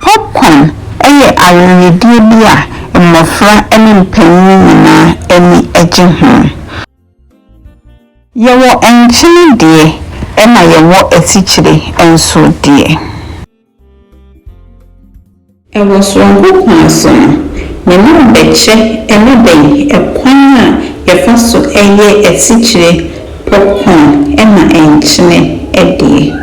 Popcorn yɛ aweredie bi a mmɔfra ne mpanin nyinaa ani gye ho. Yɛwɔ nkyene deɛ ɛna yɛwɔ asikyire nso deɛ. Wɔ soronko kwan so no, mene wo bɛkyɛ ne dɛn kwan a yɛfa so yɛ asikyire, popcorn, na nkyene deɛ.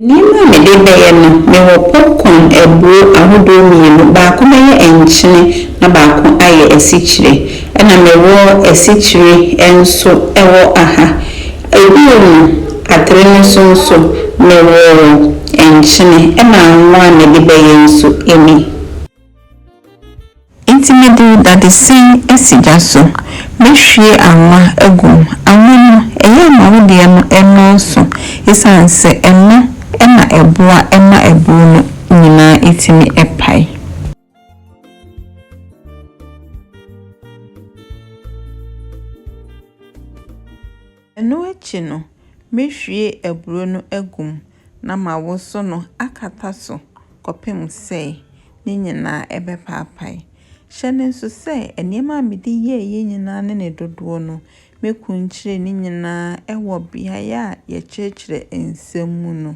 Nneɛma a mede bɛyɛ no, mewɔ popcorn abuo ahodoɔ mmienu, baako bɛyɛ nkyene na baako ayɛ asikyire. Ɛna mewɔ asikyire nso wɔ aha. Bio no, atere no so nso, mewoo nkyene, ɛna anwo a mede bɛyɛ nso nni. Enti mede dadesɛn asi gya so, mɛhwie anwa agu mu. Anwa no, ɛyɛ a ma wo deɛ no nnɔɔso ɛsiane sɛ ɛno na ɛboa ma aburo no nyinaa tumi pae. Ɛno akyi no, mɛhwie aburoo no agu mu na mawoso no akata so kɔpem sɛ ne nyinaa ɛbɛpaapae. Hyɛ no nso sɛ nneɛma a mede yɛeɛ nyinaa ne ne dodoɔ no, mɛkunkyire ne nyinaa wɔ beaeɛ a yɛkyerɛkyerɛ nsɛm mu no.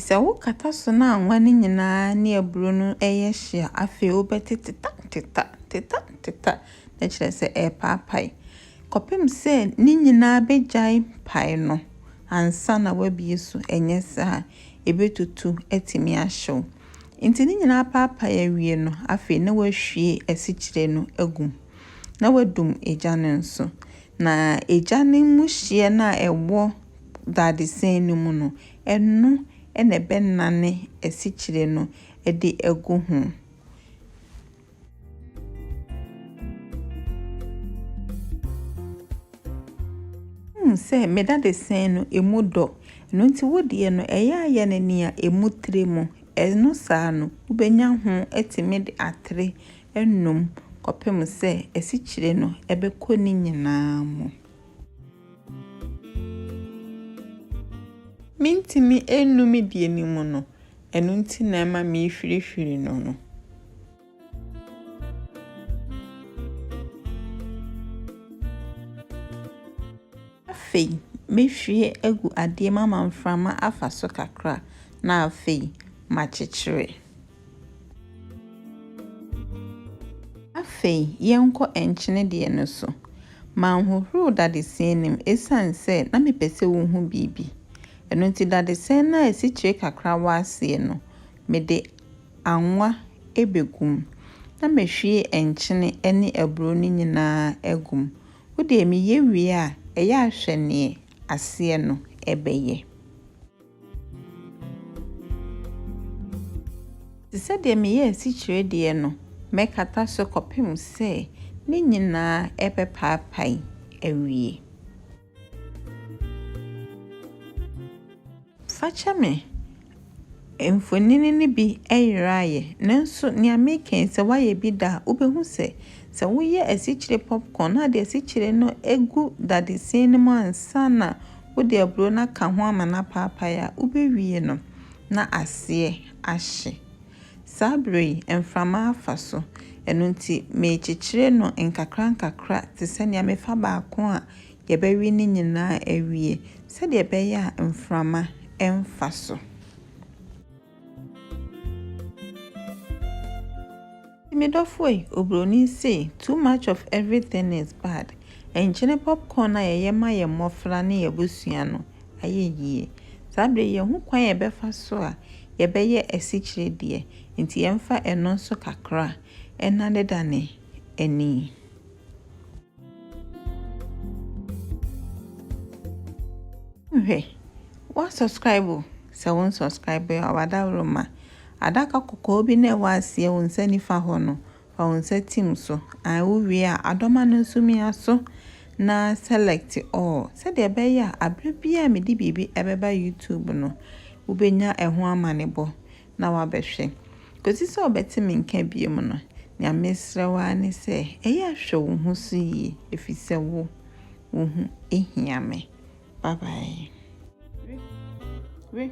Sɛ wokata so no a nwa no nyinaa ne aburo no yɛ hye a, afei wobɛte teta teta teta teta na kyerɛ sɛ ɛrepaapae kɔpem sɛ ne nyinaa bɛgyae pae no ansa na wabie so. Ɛnyɛ saa ebetutu atumi ahyew. Enti ne nyinaa apaapae awie no, afei na wahwie asikyire no agu mu, na wadum egya no nso. Na egya no mu hyeɛ no a ɛwɔ dadesɛn no mu no, ɛno na ɛbɛnane asikyire no de agu ho. Wohu sɛ me dadesɛn no emu dɔ, ɛno nti wo deɛ no ɛyɛ ayɛ no nea emu tire mu. Ɛno saa no, wobɛnya ho atumi de atere anom kɔpem sɛ asikyire no ɛbɛkɔ ne nyinaa mu. Mentumi nnum deɛ me mu no. ɛno nti na ɛma mehwirihwiri no no. Afei, mɛhwie agu adeɛ mu ama mframa afa so kakra na afei makyekyere. Afei, yɛnkɔ nkyene deɛ no so. Manhohoro dadesɛn no mu ɛsiane sɛ na mepɛ sɛ wohu biribi. Ɛno nti dadesɛn no a asikyire kakra wɔ aseɛ no, mede anwa bɛgu mu, na mahwie nkyene ne aburo no nyinaa agu mu. Wo deɛ meyɛ wie a, ɛyɛ a hwɛ deɛ aseɛ no bɛyɛ. Te sɛ deɛ meyɛ asikyire deɛ no, mɛkata so kɔpem sɛ ne nyinaa bɛpaapae awie. Fakyɛ me, mfonini no bi yera ayɛ, nanso nea meka yi, sɛ woayɛ bi da a, wubehu sɛ, sɛ woyɛ asikyire popcorn na wode asikyire no gu dadesin no mu ansa na wode aburow no aka ho ama no apaapae a, wubewie no na aseɛ ahye. Saa bere yi, mframa afa so, ɛno nti merekyekyere no nkakrankakra te sɛ nea mefa baako a yɛbɛwe ne nyinaa awie, sɛdeɛ ɛbɛyɛ a mframa remfa so. Me dɔfo ei, obroni sei, too much of everything is bad. Nkyene popcorn a yɛyɛ ma yɛn mmɔfra ne yɛn abusua no, ayɛ yie. Saa berɛ yi yɛhu kwan a yɛbɛfa so a yɛbɛyɛ asikyire deɛ, nti yɛmfa ɛno nso kakra nnanedane ani. Hwɛ, wa subscribe o, sɛ wo nsubscribe a wadaworoma. Adaka kɔkɔɔ bi na ɛwɔ aseɛ wo nsa nifa hɔ no, Fa wo nsa tim so. Ae, wowie a, adɔma no nso mia so na select all sɛdeɛ ɛbɛyɛ a aberɛ biara a mede biribi ɛbɛba YouTube no, wobɛnya ɛho amanebɔ na wabɛhwɛ. Kɔsi sɛ wobɛte me nka biom no, nea mesrɛ wo ara ne sɛ ɛyɛ a hwɛ wo ho so yie ɛfiri sɛ wo, wo ho hia me. Bye bye. We, we.